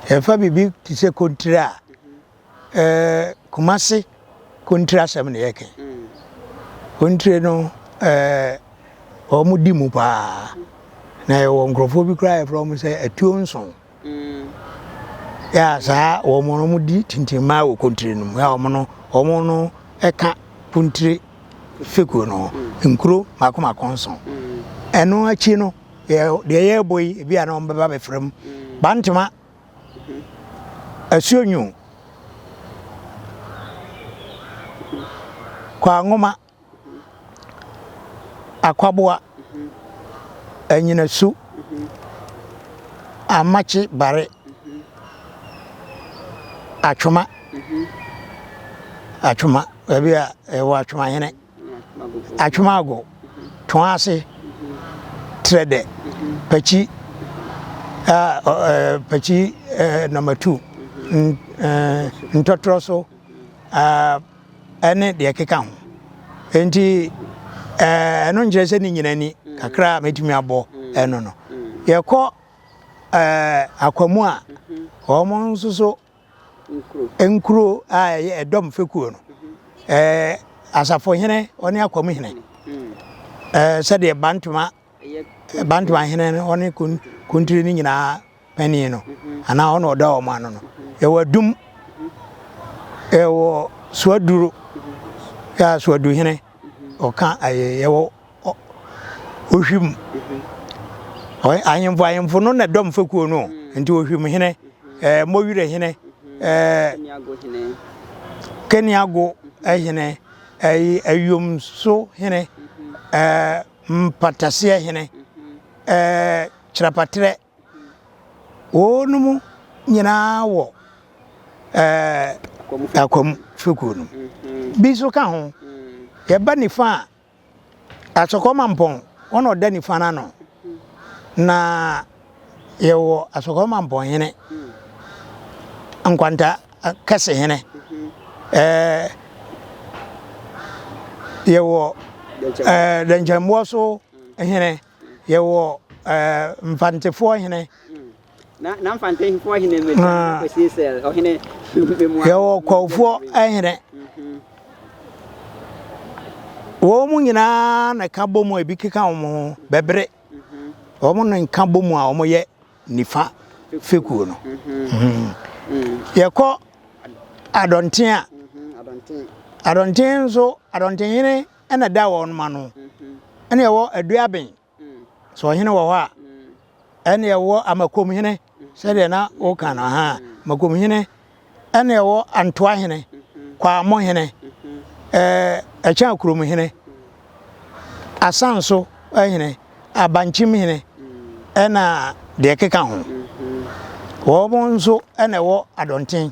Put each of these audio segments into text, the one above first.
Yɛmfa biribi te sɛ kontire a, eh, Kumasi kontire asɛm na yɛka yi. Kontire no, eh, wɔdi mu paa. Na yɛwɔ nkurɔfoɔ bi koraa a yɛfrɛ wɔn sɛ atuo nson. Yɛ a saa wɔn no wɔdi tintimmaa wɔ kontire no mu. Yɛ a wɔn no, wɔn no ka kontire fekuo no ho nkuro mako mako nson. Ɛno akyi no, deɛ yɛrebɔ yi ebi a na wɔn bɛba bɛfra mu bantama asuo nyu kwanwoma akwaboa anyinasu amakye bare atwoma atwoma baabi a ɛwɔ atwoma hene. Atwemago, Toase, Trɛdɛ, Pakyi, Pakyi Nɔmatu, Ntɔtorɔso ne deɛ ɛkeka ho. Enti ɛno nkyerɛ sɛ ne nyina ni kakra a mɛtumi abɔ ɛno no. Yɛkɔ akwamu a, wɔn nso so nkuro. Nkuro a ɛyɛ ɛdɔm fekuo no, ɛɛ asafohene ɔne akɔmhene. Ɛɛ sɛdeɛ bantoma bantoma hene no ɔne kun kuntiri no nyinaa panin no anaa ɔna ɔda wɔn ano no. Ɛwɔ adum, ɛwɔ suaduro, ɛɛ suaduhene. ɔka ayɛyɛ wɔ ohwim ahemfo ahemfo no na dɔm fekuo no nti ohwim hene ɛɛ eh, mɔwire hene ɛɛ eh, keniago hene ɛyi eh, ayomso hene ɛɛ mpataseɛ hene ɛɛ kyerɛpatrɛ Wɔnom nyinaa wɔ ɛɛ Akwam fekuo no mu. Bi nso ka ho. Yɛba nifa a, Asɔkɔ Mampɔn, wɔn na wɔda nifa no ano. Na yɛwɔ Asɔkɔ Mampɔnhene, Nkwanta Kɛsehene. Ɛɛ yɛwɔ ɛɛ Dɛnkyɛmmoɔ so hene. Yɛwɔ Mfantefoɔ hene. Na Mfantefoɔ hene mmɛdwa na kɔsie sɛl ɔhene mmɛmua. Yɛwɔ Kwawofoɔ hene. Wɔn mu nyinaa na ka bɔ mu a ebi keka wɔn ho bɛbere. Wɔn na nka bɔ mu a wɔyɛ nifa fekuo no. Yɛkɔ Adɔnten a, Adɔnten nso Adɔnten hene. na ɛda wɔnom ano, ɛne ɛwɔ Aduaben, sɛ ɔhene wɔ hɔ a, ɛne ɛwɔ Amakomhene, sɛdeɛ na woka no ha, Amakomhene, ɛne ɛwɔ Antoahene, Kwamohene, Ɛkyɛn Akuromhene, Asanso hene, Abankyemhene, ɛna deɛ ɛkeka ho. Wɔnom nso na ɛwɔ Adɔnten.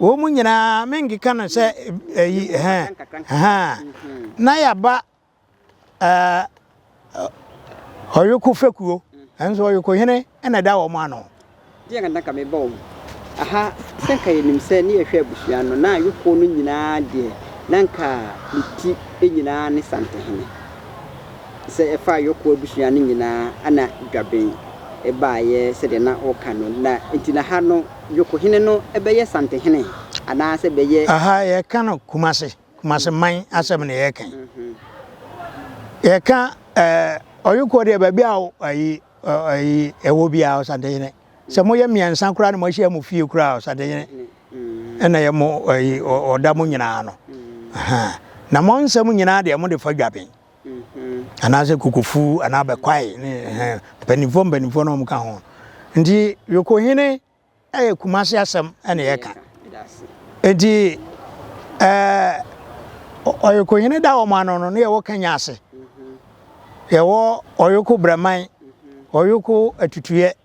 Wɔ mu nyinaa me nkeka no sɛ ɛyi hɛn hɛn na yɛaba ɔyoko fɛkuo nso ɔyoko hene na ɛda wɔn ano. Deɛ na nka meba wɔn aha sɛ nka yɛnim sɛ ne yɛhwɛ abusua no na ayoko no nyinaa deɛ na nka ne ti nyinaa ne santehene sɛ ɛfa ayoko abusua no nyinaa na dwaben baeɛ sɛdeɛ na wɔka no na nti na ha no Yokohene no bɛyɛ Santehene anaasɛ bɛyɛ. Aha yɛka no Kumase, Kumase man asɛm na yɛka yi. Yɛka eh, Ɔyokoɔ deɛ baabi a ayi, ayi ɛwɔ bi a Ɔsantehene. Sɛ moyɛ mmiɛnsa koraa na moahyia mo fie koraa Ɔsantehene ɛna yɛ mo ayi ɔda mo nyinaa no. Na mo nsɛm nyinaa deɛ mode fa dwaben. anaasɛ kokofu anaa bɛkwae ne ɛhɛn mpanimfoɔ mpanimfoɔ na wɔn ka ho nti yokohene ɛyɛ kumase asɛm ɛna yɛka nti ɛɛ ɔyokohene da wɔn ano no ne yɛwɔ kanya ase yɛwɔ ɔyoko brɛman ɔyoko atutuyɛ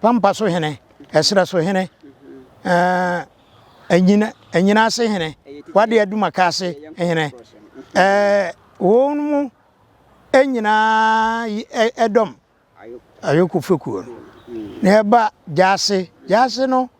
Pampa so hene, ɛserɛ so hene, ɛɛ ɛnyina ɛnyina ase hene, wade adumaka ase hene, ɛɛ wɔn mu nyinaa ɛdɔm ayoko fekuo no na ɛba gyaase gyaase no.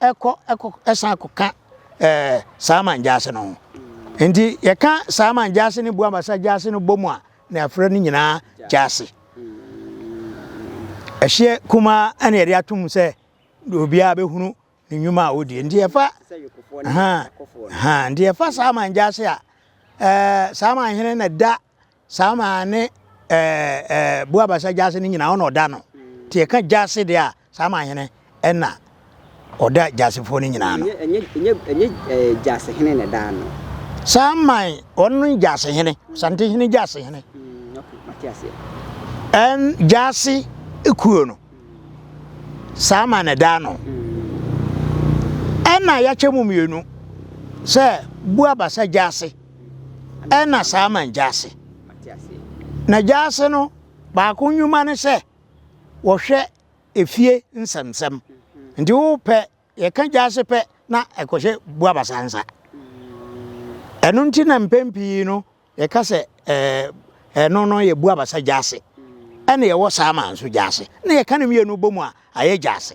ɛkɔ ɛkɔ ɛsan kɔka ɛɛ saa man gyaase no ho nti yɛka saa man gyaase ne buabasa gyaase no bɔ mu a na yɛafrɛ no nyinaa gyaase ɛhyeɛ kumaa ɛna yɛde atom sɛ obiara bɛhunu ne nnwuma a ɔdie nti yɛfa ha ha nti yɛfa saa man gyaase a ɛɛ saa man hene na da Saa maa ne bo abasa gyaase no nyina ɔna ɔda no, nti yɛka gyaase deɛ a, saa maa hene ɛna ɔda gyaasefoɔ no nyina ano. Ɛnyɛ gyaasehene na ɛda ano. Saa man ɔno no ne gyaasehene, Ɔsantehene gyaasehene. Ɛn gyaase kuo no, saa man na ɛda ano. Ɛna yɛakyɛ mu mmienu sɛ bo abasa gyaase. Ɛna saa man gyaase. Na gyaase no baako nnwuma ne sɛ wɔhwɛ efie nsɛmsɛm. Nti wo pɛ yɛka gyaase pɛ na ɛkɔhyɛ Buabasa nsa. Ɛno nti na mpɛn pii no yɛka sɛ ɛno no yɛ Buabasa gyaase. Ɛna yɛwɔ saa man nso gyaase. Na yɛka ne mmienu bɔ mu a ayɛ gyaase.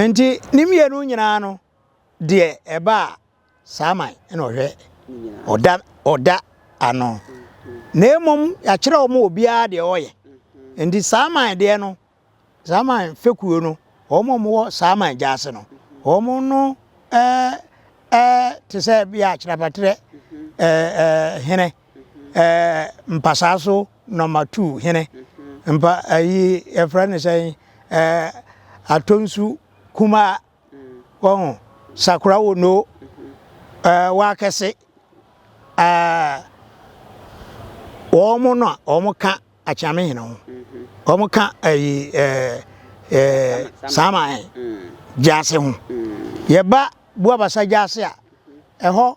Enti ne mmienu nyinaa no deɛ ɛba a saa man na ɔhwɛ ɔda ɔda ano na mmom yɛakyerɛ wɔn obiara deɛ ɔyɛ nti saa man deɛ no saa man fekuo no wɔn a wɔwɔ saa man gya ase no wɔn no ɛɛ ɛɛ te sɛ bi a kyerɛpatrɛ ɛɛ ɛɛ hene. Ɛɛ mpasaa so nɔma tu hene mpa ayi yɛfrɛ no sɛn ɛɛ atonsu kumaa wɔn sakura wɔ no ɛɛ wɔakɛse ɛɛ wɔn mo no a wɔn ka akyame hene ho wɔn ka ayi ɛɛ ɛɛ saama ɛɛ gyaase ho yɛba buabasa gyaase a ɛhɔ.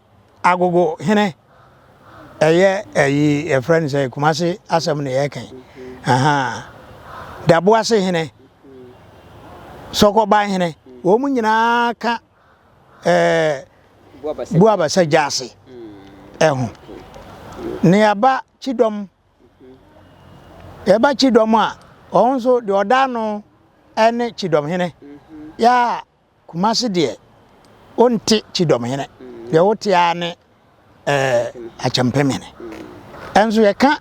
Agogo hene ɛyɛ ɛyi yɛfrɛ no sɛ Kumasi asɛm na yɛka yi ahaa Daboase hene Sɔkɔban hene wɔn nyinaa ka ɛɛ Buabasa Gyaase ɛho na yɛaba Kyidɔm yɛba Kyidɔm a wɔn nso deɛ ɔda ano ɛne Kyidɔm hene yɛ a Kumasi deɛ wonte Kyidɔm hene, deɛ wote ara ne eh, Akyɛmpem hene. Ɛnso yɛka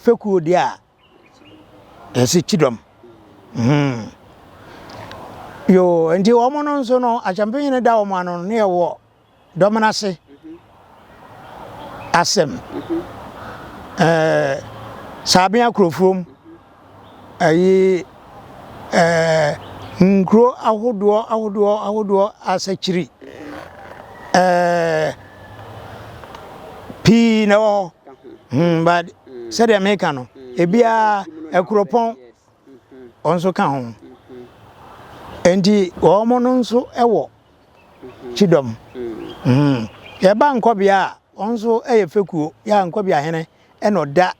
fekuo deɛ a, yɛse Kyidɔm. Hmm. Yoo, nti wɔn no nso no, Akyɛmpem hene da wɔn ano no, ne yɛwɔ Dɔm no ase asɛm ɛɛ Saabea Kurofuom ɛyi ɛɛ nkuro ahodoɔ ahodoɔ ahodoɔ asakyiri ɛɛ pii na ɛwɔ hɔ hmm but sɛdeɛ meka no ebiara Akuropɔn wɔn nso ka ho. Enti wɔn no nso wɔ kyidɔm. Yɛba Nkɔbea a, wɔn nso yɛ fekuo. Yɛ a Nkɔbea hene na ɔda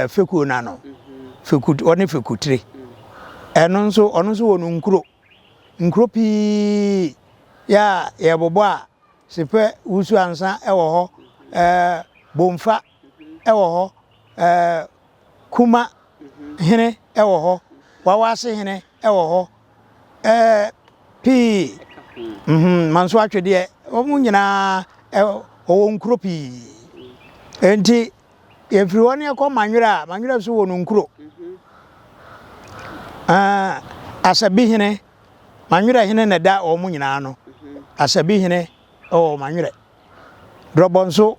fekuo no ano. Feku, ɔne Fekutire. Ɛno nso, ɔno nso wɔ no nkuro. Nkuro pii yɛ a yɛbobɔ a, Sepɛ, Wusu Ansa wɔ hɔ, Bomfa wɔ hɔ, ɛɛ Kuma hene wɔ hɔ, Wawase hene wɔ hɔ, ɛɛ pii, mm-hmm, Manso Atwedeɛ, wɔn nyinaa ɛwɔ wɔwɔ nkuro pii. Enti yɛfiri hɔ ne yɛkɔ Manwerɛ a, Manwerɛ nso wɔ ne nkuro. Ɛɛ Asabi hene, Manwerɛ hene na ɛda wɔn nyinaa no, Asabi hene wɔ Manwerɛ. Drɔbɔ nso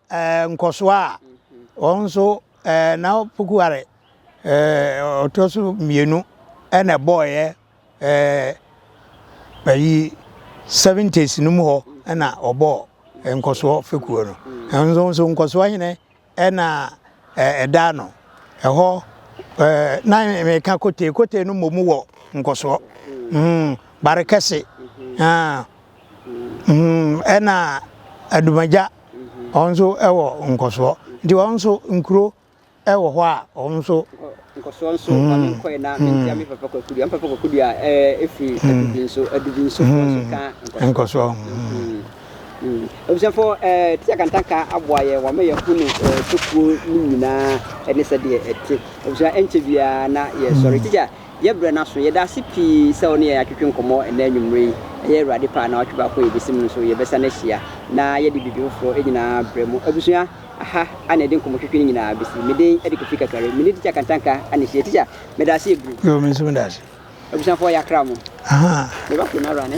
nkɔsoɔ a wɔn nso na Pokuare ɔtɔ so mmienu na ɛbɔɔyɛ ayi seventies no mu hɔ na ɔbɔɔ nkɔsoɔ fekuo no ɛno nso nkɔsoɔ hene na ɛda no ɛhɔ na meka kote kote no mmom wɔ nkɔsoɔ mm, bare kɛse mm, ɛna adumagya Wɔn nso wɔ nkɔsoɔ. Nti wɔn nso nkuro wɔ hɔ a wɔn nso. Nkɔsoɔ nso ma me nkɔe na mentia me papa Kwaku dua. Me papa Kwaku dua ɛfiri adubi nso. Adubi nso wɔn nso ka nkɔsoɔ. Abusuafoɔ Tia Kantanka aboa yɛn wama yɛahunu tokuo no nyinaa ne sɛdeɛ ɛte. Abusua ɛnkyɛ biara na yɛsɔre. Tikya Yɛbrɛ no aso. Yɛda ase pii sɛ wo ne yɛn atwetwe nkɔmmɔ ɛnnɛ anwummere yi. Ɛyɛ Awurade pɛ a na watwe baako a yɛbɛsi mu no nso yɛbɛsan ahyia na yɛde biribi foforɔ nyinaa brɛ mu. Abusua, aha a na yɛde nkɔmmɔtwetwe no nyinaa bɛsi. Me din de Kofi Kakari. Me ne Tikya Kantanka na ɛhyia. Tikya, meda ase yɛ bruu. Yoo, me nso meda ase. Abusuafoɔ, yɛakra mo. Aha. Meba fie no ara ne.